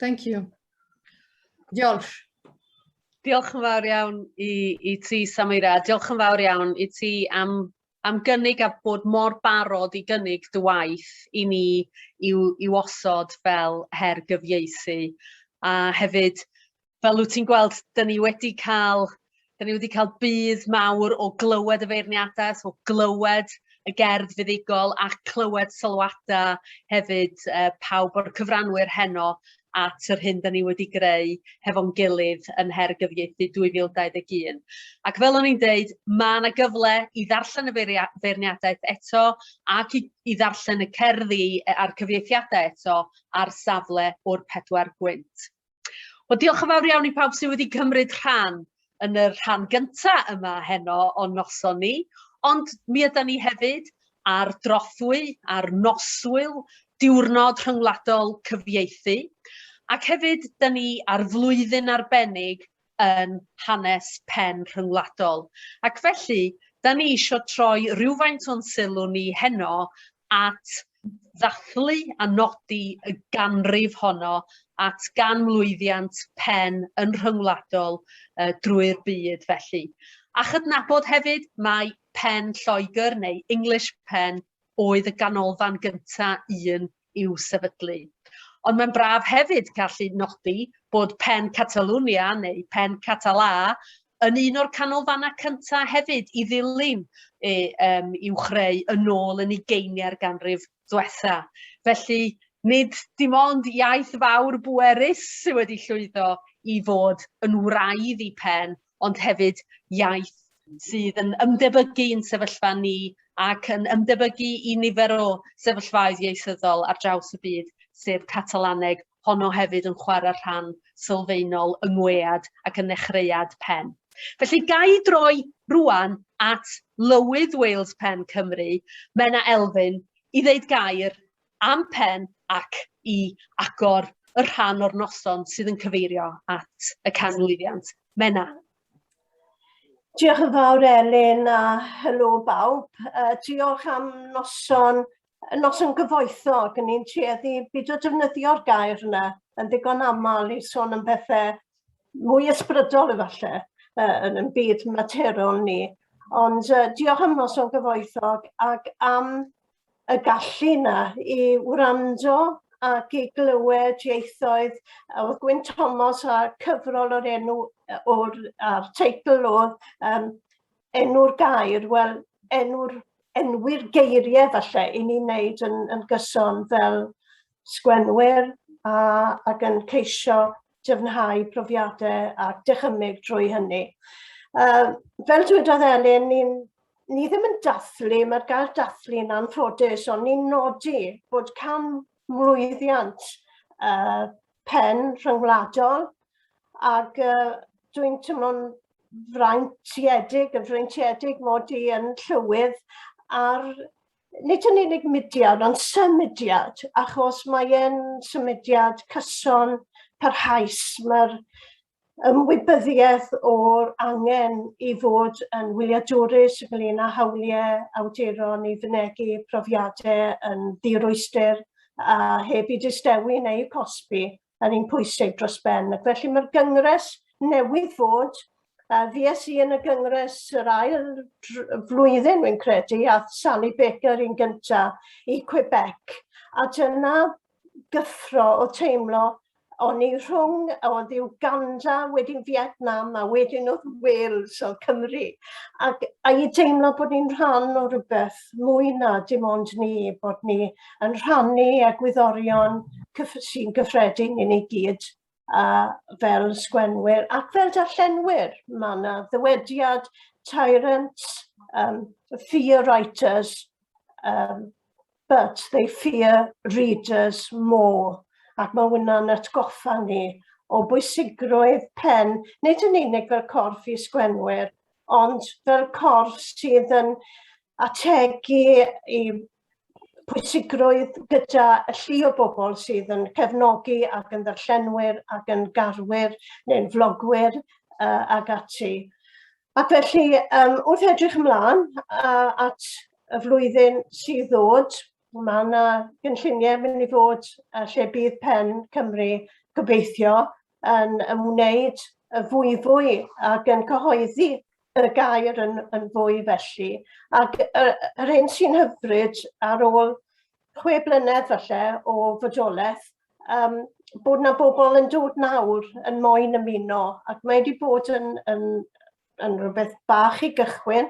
Thank you. Diolch. Diolch yn fawr iawn i, i ti, Samira. Diolch yn fawr iawn i ti am, am gynnig a bod mor barod i gynnig dy waith i ni i'w, i'w osod fel her gyfieithu. A hefyd, fel wyt ti'n gweld, dyn ni wedi cael Da ni wedi cael budd mawr o glywed y feirniadau, so glywed y gerdd fuddugol a clywed sylwadau hefyd e, pawb o'r cyfranwyr heno at yr hyn da ni wedi greu hefo'n gilydd yn Her Gyfieithu 2021. Ac fel o'n i'n deud, mae yna gyfle i ddarllen y feirniadaeth eto ac i, i ddarllen y cerddi e, a'r cyfieithiadau eto ar safle o'r pedwar gwynt. Wel, diolch yn fawr iawn i pawb sydd wedi cymryd rhan yn y rhan gynta yma heno o'n noson ni, ond mi ydan ni hefyd ar drothwy, ar noswyl, diwrnod rhyngwladol cyfieithu, ac hefyd, da ni ar flwyddyn arbennig yn hanes pen rhyngwladol ac felly 'dan ni isio troi rywfaint o'n sylw ni heno at ddathlu a nodi y ganrif honno at ganmlwyddiant pen yn rhyngwladol uh, drwy'r byd felly. A chydnabod hefyd mae pen Lloegr neu English pen oedd y ganolfan gyntaf un i'w sefydlu. Ond mae'n braf hefyd gallu nodi bod Pen Catalunya neu Pen Català yn un o'r canolfannau cyntaf hefyd i ddilyn e, um, i'w chreu yn ôl yn ugeiniau'r ganrif ddwetha. Felly, nid dim ond iaith fawr bwerus sydd wedi llwyddo i fod yn wraidd i pen, ond hefyd iaith sydd yn ymdebygu i'n sefyllfa ni ac yn ymdebygu i nifer o sefyllfaoedd ieithyddol ar draws y byd, sef Catalaneg, honno hefyd yn chwarae rhan sylfaenol yng ngwead ac yn nechreuad pen. Felly gai droi rwan at Lywydd Wales Pen Cymru, Menna Elfyn, i ddeud gair am pen ac i agor y rhan o'r noson sydd yn cyfeirio at y canmlwyddiant. Menna. Diolch yn fawr Elin a helo bawb. Uh, diolch am noson, noson gyfoethog. Yn ni'n tueddu byd o defnyddio'r gair yna yn ddigon aml i sôn am bethau mwy ysbrydol efallai uh, yn yn byd materol ni. Ond uh, diolch am noson gyfoethog ac am y gallu yna i wrando ac i glywed ieithoedd. Oedd Gwyn Thomas a cyfrol o'r enw o'r a'r teitl oedd um, enw'r gair, wel enw'r enwi'r geiriau falle i ni wneud yn, yn gyson fel sgwennwyr a, ac yn ceisio dyfnhau profiadau a dychymyg drwy hynny. Uh, fel dwedodd Elin, ni, ni ddim yn dathlu, mae'r gair dathlu yn anffodus, ond ni'n nodi bod can mlwyddiant uh, pen rhyngwladol ac uh, dwi'n teimlo'n fraintiedig, yn fraintiedig mod i yn llywydd ar nid yn unig mudiad, ond symudiad, achos mae e'n symudiad cyson parhaus. Mae'r ymwybyddiaeth o'r angen i fod yn wyliadwrus ynglyn â hawliau awduron i fynegu profiadau yn ddirwystr a heb i distewi neu cosbi yn un pwysig dros ben. Ac felly mae'r gyngres newydd fod, a fies i yn y gyngres yr ail flwyddyn, wy'n credu, a Sally Baker yn gynta i Quebec. A dyna gyffro o teimlo o'n i rhwng oedd yw Uganda, wedyn Vietnam a wedyn oedd Wales o Cymru. Ac a i deimlo bod ni'n rhan o rhywbeth mwy na dim ond ni, bod ni yn rhannu egwyddorion sy'n gyffredin i ni gyd a fel sgwenwyr ac fel darllenwyr. Mae yna ddywediad tyrant, um, fear writers, um, but they fear readers more. Ac mae hwnna'n atgoffa ni o bwysigrwydd pen, nid yn unig fel corff i sgwenwyr, ond fel corff sydd yn ategu i pwysigrwydd gyda y llu o bobl sydd yn cefnogi ac yn ddarllenwyr ac yn garwyr neu'n flogwyr uh, ac ati. Ac felly, um, wrth edrych ymlaen uh, at y flwyddyn sydd ddod, mae yna gynlluniau mynd i fod uh, lle bydd pen Cymru gobeithio yn ymwneud y fwyfwy ac yn cyhoeddi y gair yn, yn fwy felly. Ac yr, yr hyn sy'n hyfryd ar ôl chwe blynedd falle o fodolaeth, um, bod na bobl yn dod nawr yn moyn ymuno ac mae wedi bod yn, yn, yn rhywbeth bach i gychwyn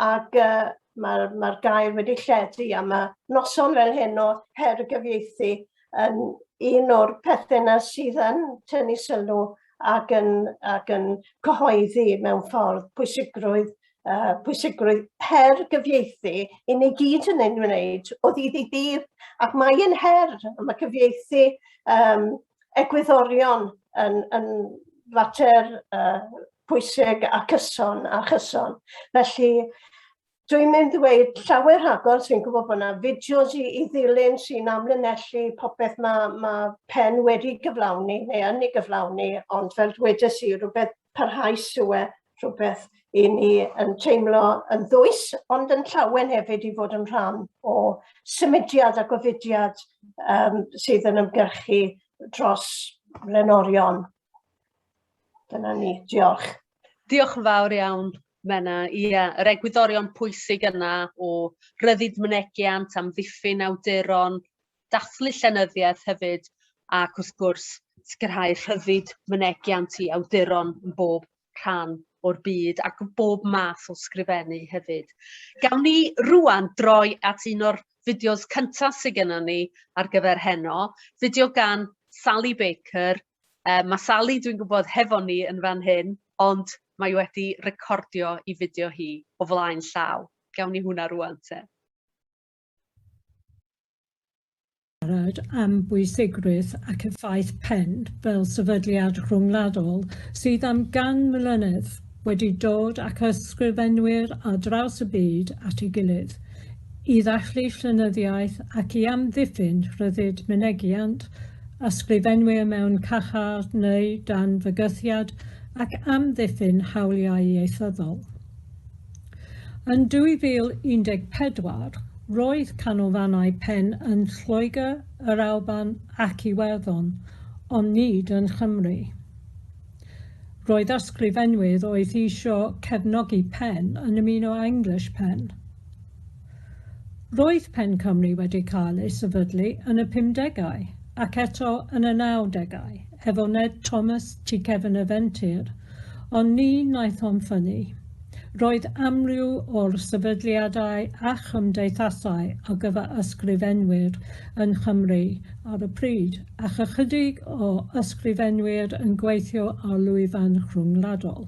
ac uh, mae'r mae gair wedi lledu a mae noson fel hyn o her y gyfieithu yn un o'r pethau yna sydd yn tynnu sylw ac yn, ac yn cyhoeddi mewn ffordd pwysigrwydd, uh, pwysigrwydd her gyfieithu i ni gyd yn ein wneud o ddydd i ddydd. Ac mae'n her, mae cyfieithu um, egwyddorion yn, yn fater uh, pwysig a cyson a chyson. Felly, Dwi'n mynd i ddweud llawer rhagor, dwi'n gwybod bod yna fideos i, i ddilyn sy'n amlinellu popeth mae ma pen wedi gyflawni neu yn ei gyflawni, ond fel dwedais i, rhywbeth parhaus yw e, rhywbeth i ni yn teimlo yn ddwys, ond yn llawen hefyd i fod yn rhan o symudiad a gofidiad um, sydd yn ymgyrchu dros lenorion. Dyna ni, diolch. Diolch yn fawr iawn, Menna. Ia, yr egwyddorion pwysig yna o ryddid mynegiant, amddiffyn awduron, dathlu llenyddiaeth hefyd, ac wrth gwrs, sicrhau rhyddid mynegiant i awduron yn bob rhan o'r byd ac yn bob math o sgrifennu hefyd. Gawn ni rwan droi at un o'r fideos cyntaf sydd gennym ni ar gyfer heno, fideo gan Sally Baker, Yy ma' Sali dwi'n gwybod hefo ni yn fan hyn ond mae wedi recordio i fideo hi o flaen llaw. Gawn ni hwnna rŵan te. siarad am bwysigrwydd ac effaith pen fel sefydliad rhyngwladol sydd am gan mlynedd wedi dod ac ysgrifenwyr ar draws y byd at ei gilydd i ddathlu llenyddiaeth ac i amddiffyn rhyddid mynegiant ysgrifenwyr mewn caeau neu dan fygythiad ac amddiffyn hawliau ieithyddol. Yn 2014, roedd canolfannau pen yn Lloegr, yr Alban ac Iwerddon, ond nid yn Nghymru. Roedd ysgrifenwyr oedd eisiau cefnogi pen yn ymuno â English Pen. Roedd Pen Cymru wedi cael ei sefydlu yn y pumdegau, ac eto yn y nawdegau, efo Ned Thomas tu cefn y fentir, ond ni wnaethom ffynnu. Roedd amryw o'r sefydliadau a chymdeithasau ar gyfer ysgrifenwyr yng Nghymru ar y pryd, ac ychydig o ysgrifenwyr yn gweithio ar lwyfan rhyngwladol.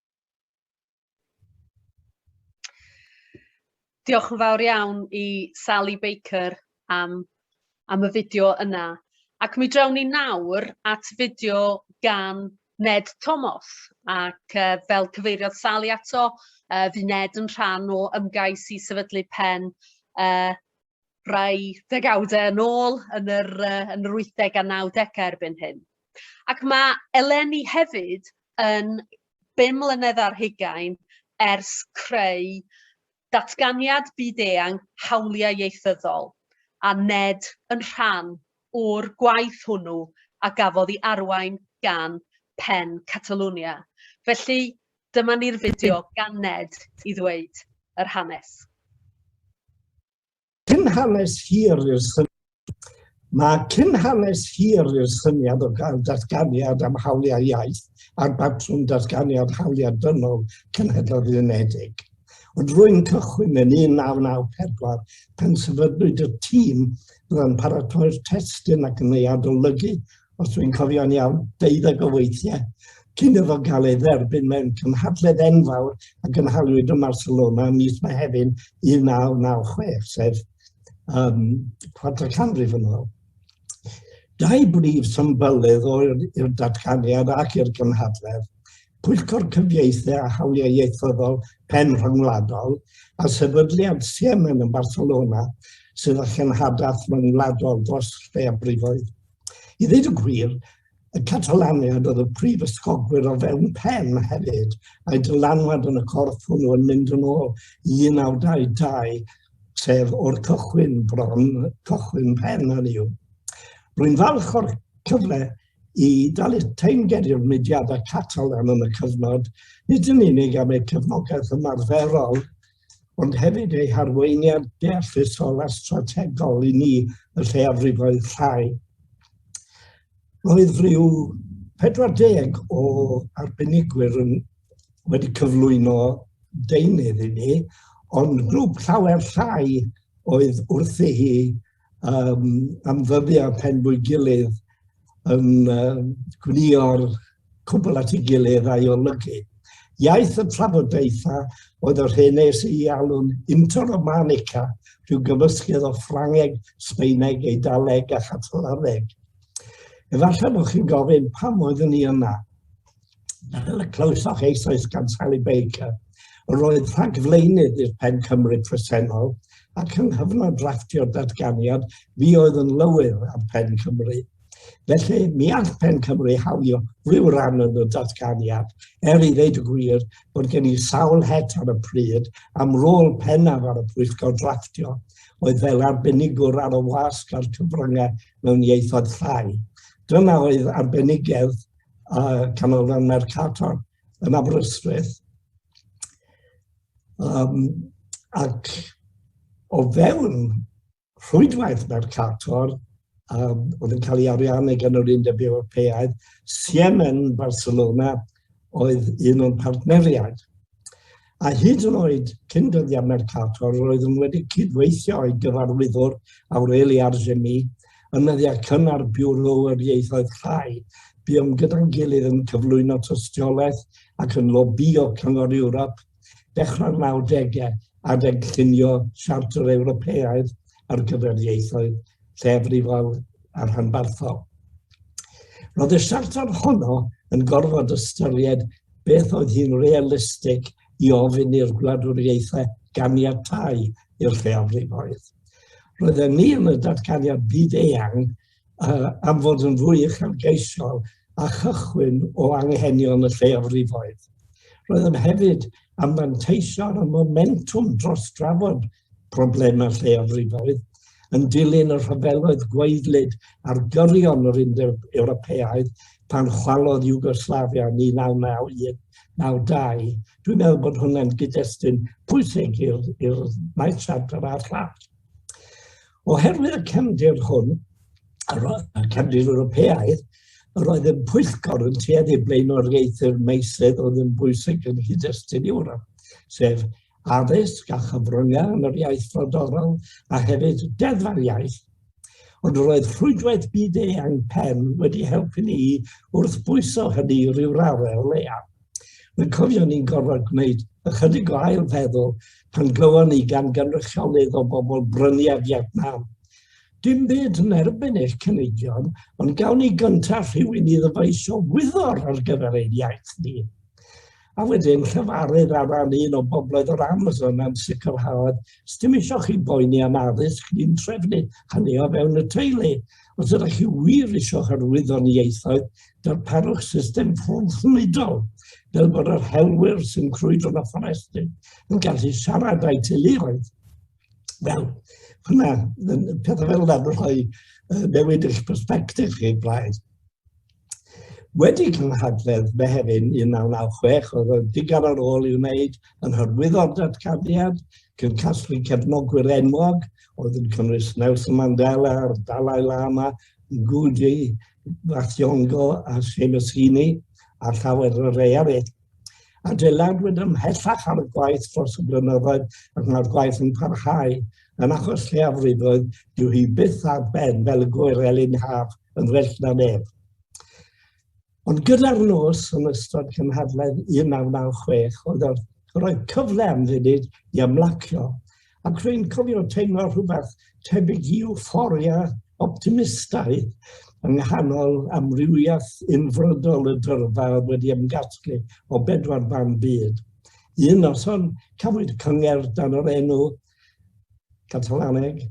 Diolch yn fawr iawn i Sally Baker am, am y fideo yna. Ac mi drawn ni nawr at fideo gan Ned Thomas ac uh, fel cyfeiriodd Sally ato, uh, fi Ned yn rhan o ymgais i sefydlu pen uh, rai degawdau yn ôl yn yr, uh, yn yr 80 a 90 erbyn hyn. Ac mae eleni hefyd yn 5 mlynedd ar hugain ers creu datganiad byd-eang hawliau ieithyddol, a ned yn rhan o'r gwaith hwnnw a gafodd i arwain gan Pen Catalunya. Felly, Dyma ni'r fideo gan Ned i ddweud yr hanes. Cyn hanes hir i'r syniad. Mae cyn hanes hir i'r syniad o gael datganiad am hawliau iaith a'r batrwm datganiad hawliau dynol Cenhedloedd Unedig. Ond rwy'n cychwyn yn 1994 pan sefydlwyd y tîm byddai'n paratoi'r testun ac yn ei adolygu os dwi'n cofio'n iawn, deuddeg o weithiau, cyn iddo gael ei dderbyn mewn cymhadledd enfawr a gynhaliwyd yn Barcelona ym mis Mehefin 1996, sef um, quarter canrif yn ôl. Dau brif symbylydd o'r datganiad ac i'r gymhadledd, Pwyllgor Cyfieithu a Hawliau Ieithyddol Pen Rhyngwladol a sefydliad Siemen yn Barcelona sydd â chenhadaeth rhyngwladol dros lleafrifoedd. I ddweud y gwir, y Catalaniad oedd y prif ysgogwyr o fewn pen hefyd, mae dylanwad yn y corff hwnnw yn mynd yn ôl i 1922, sef o'r cychwyn bron, cychwyn pen yn yw. Rwy'n falch o'r cyfle i dalu teimged i'r mudiadau Catalan yn y cyfnod, nid yn unig am eu cefnogaeth ymarferol ond hefyd ei harweiniad deallusol a strategol i ni y lleiafrifoedd llai. Roedd rhyw 40 o arbenigwyr yn wedi cyflwyno deunydd i ni, ond grŵp llawer llai oedd wrthi hi um, am ddyddiau pen bwy gilydd yn uh, gwnio'r cwbl at ei gilydd a'i olygu. Iaith y trafodaethau oedd yr hyn nes i alw'n interromanica, rhyw gyfysgedd o Ffrangeg, Sbeineg, Eidaleg a Chatalaneg. Efallai bod chi'n gofyn pam oeddwn ni yna. fel y clywsoch eisoes gan Sally Baker, roedd rhagflaenydd i'r pen Cymru presennol ac yng nghyfnod draftio'r datganiad fi oedd yn lywydd am pen Cymru. Felly, mi all pen Cymru hawlio rhyw ran yn y datganiad, er i ddeud y gwir bod gen i sawl het ar y pryd am rôl pennaf ar y pwyllgor draftio, oedd fel arbenigwr ar y wasg a'r cyfryngau mewn ieithoedd llai. Dyna oedd arbenigedd a Canolfan Mercator yn Aberystwyth. Um, ac o fewn rhwydwaith Mercator, um, oedd yn cael ei ariannu gan yr Undeb Ewropeaidd, Siemen Barcelona oedd un o'n partneriaid. A hyd yn oed cyn dyddiau Mercator, roeddwn wedi cydweithio i gyfarwyddwr Aureli Arzemi yn nyddiau cynnar Biwro yr Ieithoedd Llai. Buom gyda'n gilydd yn cyflwyno tystiolaeth ac yn lobïo Cyngor Ewrop dechrau'r 90au adeg llunio Siarter Ewropeaidd ar gyfer Ieithoedd lleafrifol a rhanbarthol. Roedd y siarter honno yn gorfod ystyried beth oedd hi'n realistig i ofyn i'r gwladwriaethau ganiatau i'r lleafrifoedd. Roedd e ni yn y datganiad byd eang uh, am fod yn fwy uchelgeisiol a chychwyn o anghenion y lleafrifoedd. Roedd yn hefyd am fanteisio ar y momentwm dros drafod problemau lleiafrifoedd, yn dilyn y rhyfeloedd gwaedlyd ar gyrion yr Undeb Ewropeaidd pan chwalodd Iwgoslafia 1991-92. Dwi'n meddwl bod hwnna'n gyd-destun pwysig i'r maes siarter a'r llall. Oherwydd y cefndir hwn, y cefndir Ewropeaidd, yr oedd yn pwyllgor yn tueddu blaenoriaethu'r meisydd oedd yn bwysig yn hyd-destun Ewrop, sef addysg a chyfryngau yn yr iaith frodorol a hefyd deddfa'r iaith. Ond roedd rhwydwaith byd-eang pen wedi helpu ni wrth bwyso hynny rhyw raddau o leiaf. Mae'n cofio ni'n gorfod gwneud ychydig o ail feddwl pan glywon ni gan gynrychiolydd o bobl brynu a Vietnam. Dim byd yn erbyn eich cynigion, ond gawn ni gyntaf rhywun i ddyfaisio wyddor ar gyfer ein iaith ni. a wedyn llefarydd ar ran un o bobloedd o'r Amazon am sicrhaodd, sdim eisiau chi boeni am addysg, ni'n trefnu hynny o fewn y teulu. Os ydych chi wir eisiau hyrwyddo ni ieithoedd, darparwch system ffwrnidol, fel bod yr helwyr sy'n crwydro na fforestyn yn gallu siarad â'i teuluoedd. Wel, hwnna, pethau fel yna yn rhoi newid eich perspektif chi, Blaid. Wedi cynhadledd Mehefin 1996, oedd yn ddigar ar ôl i'w wneud yn hyrwyddo'r datganiad, cyn casglu cefnogwyr enwog, oedd yn cynnwys Nelson Mandela a'r Dalai Lama, Ngugi Wathiongo a Seamus Heaney, a llawer o rei eraill. adeiladwyd ymhellach ar y gwaith dros y blynyddoedd ac mae'r gwaith yn parhau. Yn achos lleiafrifoedd, dyw hi byth ar ben fel y gwyr elin haf yn well na neb. Ond gyda'r nos yn ystod cynhadledd 1996, oedd roedd cyfle am funud i ymlacio Ac rwy'n cofio teimlo rhywbeth tebyg i euphoria optimistaidd yng nghanol amrywiaeth unfrydol y dyrfa oedd wedi ymgasglu o bedwar ban byd. Un noson, cafwyd cyngerdd dan yr enw Catalaneg,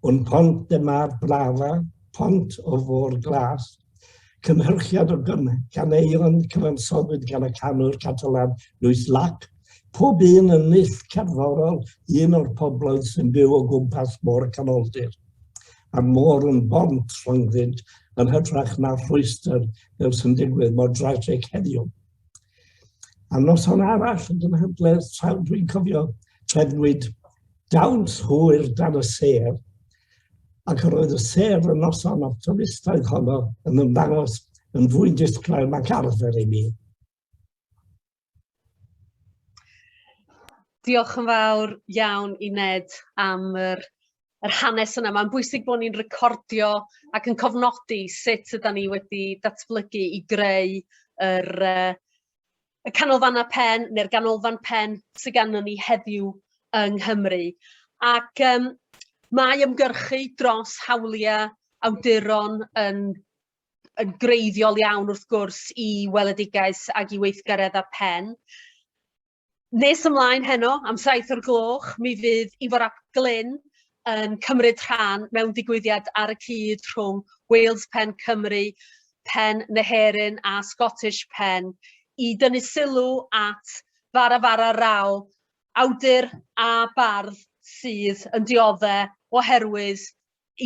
Un pont de mar blava, pont o'r fôr glas, Cynhyrchiad o ganeuon cyfansoddwyd gan y canwr Catalan Lluís Llach. Pob un yn nill cerddorol un o'r pobloedd sy'n byw o gwmpas môr y canoldir. A'r môr yn bont rhyngddynt yn hytrach na rhwystr fel sy'n digwydd mor drasig heddiw. A noson arall yn gynhadledd traw dwi'n cofio trefnwyd dawns hwyr dan y sêr ac yr oedd y sef y noson o'r twristoedd honno yn ymddangos yn fwy disglair nac arfer i mi. Diolch yn fawr iawn i Ned am yr, yr hanes yna. Mae'n bwysig bod ni'n recordio ac yn cofnodi sut yda ni wedi datblygu i greu yr, uh, y canolfannau pen neu'r ganolfan pen sy ganddyn ni heddiw yng Nghymru. Ac um, mae ymgyrchu dros hawliau awduron yn, yn greiddiol iawn wrth gwrs i weledigaeth ac i weithgaredd a pen. Nes ymlaen heno, am saith o'r gloch, mi fydd Ifor Ap Glyn yn cymryd rhan mewn digwyddiad ar y cyd rhwng Wales Pen Cymru, Pen Neherin a Scottish Pen i dynnu sylw at Fara Fara Rao, awdur a bardd sydd yn diodde' oherwydd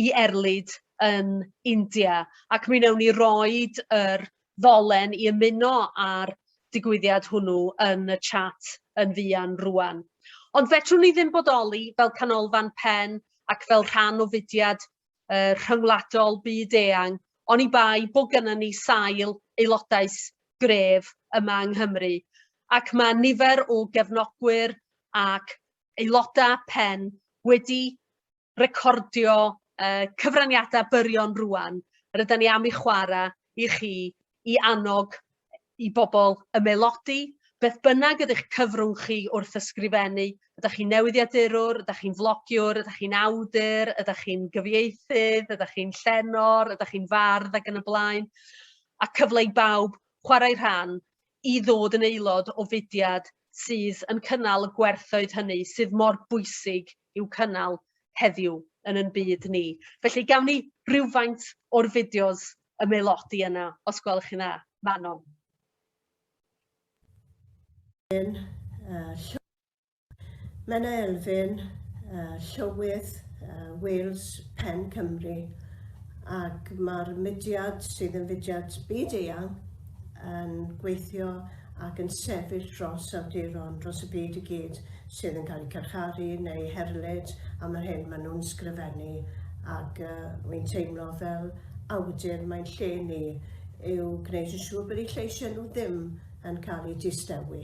i erlid yn India, ac mi newn ni roid yr ddolen i ymuno â'r digwyddiad hwnnw yn y chat yn fuan rŵan. Ond fedrwn ni ddim bodoli fel canolfan pen ac fel rhan o fudiad uh, rhyngwladol byd-eang, oni bai bod gennym ni sail aelodaeth gref yma yng Nghymru, ac mae nifer o gefnogwyr ac aelodau pen wedi recordio uh, cyfraniadau byrion rwan, yr ydyn ni am i chwarae i chi i annog i bobl ymelodi, beth bynnag ydych cyfrwng chi wrth ysgrifennu, ydych chi'n newyddiadurwr, ydych chi'n flogiwr, ydych chi'n awdur, ydych chi'n gyfieithydd, ydych chi'n llenor, ydych chi'n fardd ac yn y blaen, a cyfle i bawb chwarae rhan i ddod yn aelod o fudiad sydd yn cynnal y gwerthoedd hynny sydd mor bwysig i'w cynnal heddiw yn yn byd ni. Felly gawn ni rywfaint o'r fideos ymaelodi yna, os gwelwch chi'n dda. Manon. Menna Elfyn, Llywydd Wales Pen Cymru, ac mae'r mudiad sydd yn fudiad byd-eang yn gweithio ac yn sefyll dros awduron dros y byd i gyd sydd yn cael eu carcharu neu herlyd am yr hyn maen nhw'n sgrifennu ac uh, wy'n teimlo fel awdur mae'n lle ni yw gwneud yn siŵr bod eu lleisiau nhw ddim yn cael eu distewi.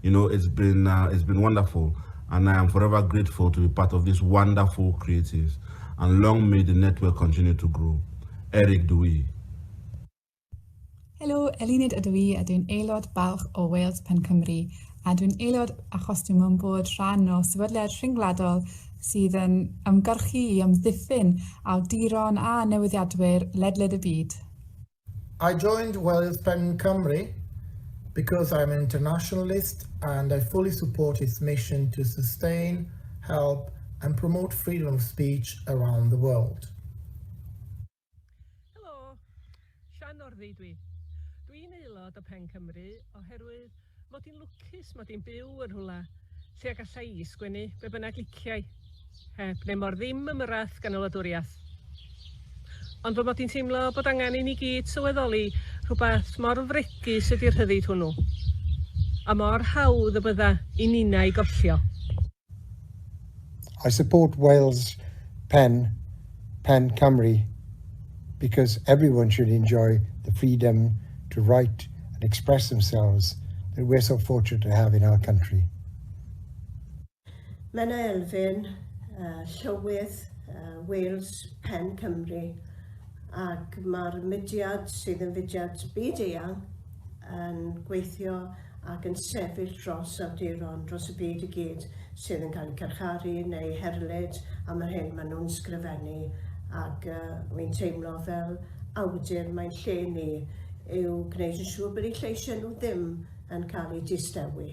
You know, it's been, uh, it's been wonderful, and I am forever grateful to be part of these wonderful creatives, and long may the network continue to grow. Eric Dewey. Helo, Elinid ydw i, a dwi'n aelod balch o Wales Pen Cymru, a dwi'n aelod achos dwi'n mwyn bod rhan o sefydliad rhyngwladol sydd yn ymgyrchu i amddiffyn awduron a newyddiadwyr ledled y byd. I joined Wales Pen Cymru because I am an internationalist and I fully support its mission to sustain, help and promote freedom of speech around the world. Helo, Sian Orddi dwi. Dwi'n aelod o Pen Cymru oherwydd Mod i'n lwcus mod i'n byw yn rhywle lle y galla i sgwennu be bynnag liciai, heb neu mor ddim ymyrraeth gan y wladwriaeth. Ond fy mod i'n teimlo bod angen i ni gyd sylweddoli rhywbeth mor fregus ydi'r rhyddid hwnnw, a mor hawdd y bydda i ninnau gollio. I support Wales Pen, Pen Cymru, because everyone should enjoy the freedom to write and express themselves that we're so fortunate to have in our country. Menna Elfyn, uh, Llywydd uh, Wales Pen Cymru, ac mae'r mudiad sydd yn fudiad byd eang yn gweithio ac yn sefyll dros awduron dros y byd i gyd sydd yn cael eu carcharu neu herlyd am yr hyn maen nhw'n sgrifennu ac uh, wy'n teimlo fel awdur mae'n lle ni yw gwneud yn siŵr bod eu lleisiau nhw ddim yn cael eu distewi.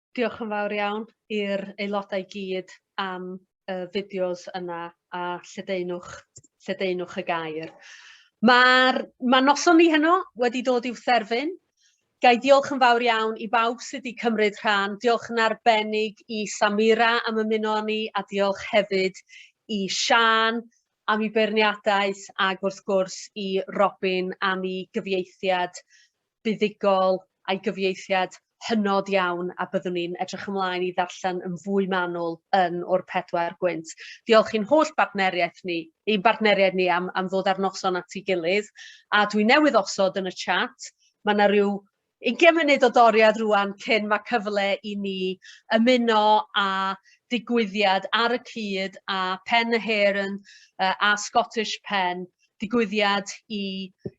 Diolch yn fawr iawn i'r aelodau i gyd am y fideos yna a lledaenwch, lledaenwch y gair. Mae'r ma noson ni heno wedi dod i'w therfyn. Gai diolch yn fawr iawn i bawb sydd wedi cymryd rhan. Diolch yn arbennig i Samira am ymuno â ni a diolch hefyd i Sian am ei beirniadaeth ac wrth gwrs i Robin am ei gyfieithiad buddugol a'i gyfieithiad hynod iawn a byddwn ni'n edrych ymlaen i ddarllen yn fwy manwl yn o'r pedwar gwynt. Diolch i'n holl bartneriaeth ni, i'n bartneriaid ni am, am ddod ar noson at ei gilydd, a dwi newydd osod yn y chat, mae yna rhyw ugain munud o doriad rwan cyn mae cyfle i ni ymuno a digwyddiad ar y cyd a Pen y Heren a Scottish Pen digwyddiad i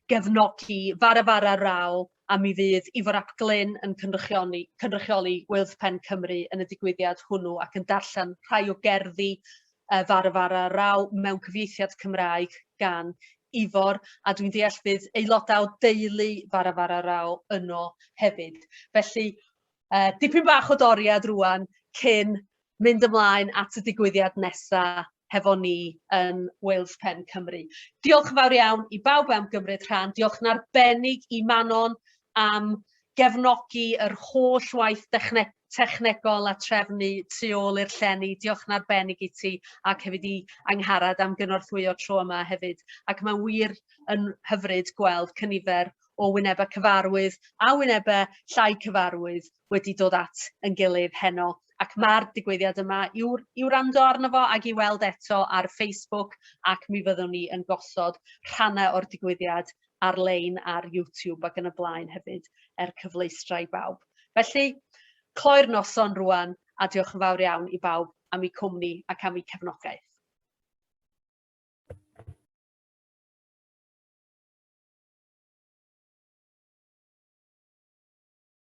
gefnogi Fara Fara Raw a mi fydd Ifor ap Glyn yn cynrychioni, cynrychioli Wyddpen Cymru yn y digwyddiad hwnnw ac yn darllen rhai o gerddi uh, Fara Fara Raw mewn cyfieithiad Cymraeg gan Ifor a dwi'n deall bydd aelodau o deulu Fara Fara Raw yno hefyd. Felly uh, dipyn bach o doriad rwan cyn mynd ymlaen at y digwyddiad nesaf hefo ni yn Wales Pen Cymru. Diolch yn fawr iawn i bawb am gymryd rhan. Diolch yn arbennig i Manon am gefnogi yr holl waith dechne technegol a trefnu tu ôl i'r llenni. Diolch yn arbennig i ti ac hefyd i Angharad am gynorthwyo tro yma hefyd. Ac mae'n wir yn hyfryd gweld cynifer o wynebau cyfarwydd a wynebau llai cyfarwydd wedi dod at yn gilydd heno ac ma'r digwyddiad yma i'w i'w wrando arno fo ag i weld eto ar Facebook ac mi fyddwn ni yn gosod rhannau o'r digwyddiad ar-lein ar YouTube ac yn y blaen hefyd er cyfleustra i bawb. Felly, cloi'r noson rwan a diolch yn fawr iawn i bawb am eu cwmni ac am eu cefnogaeth.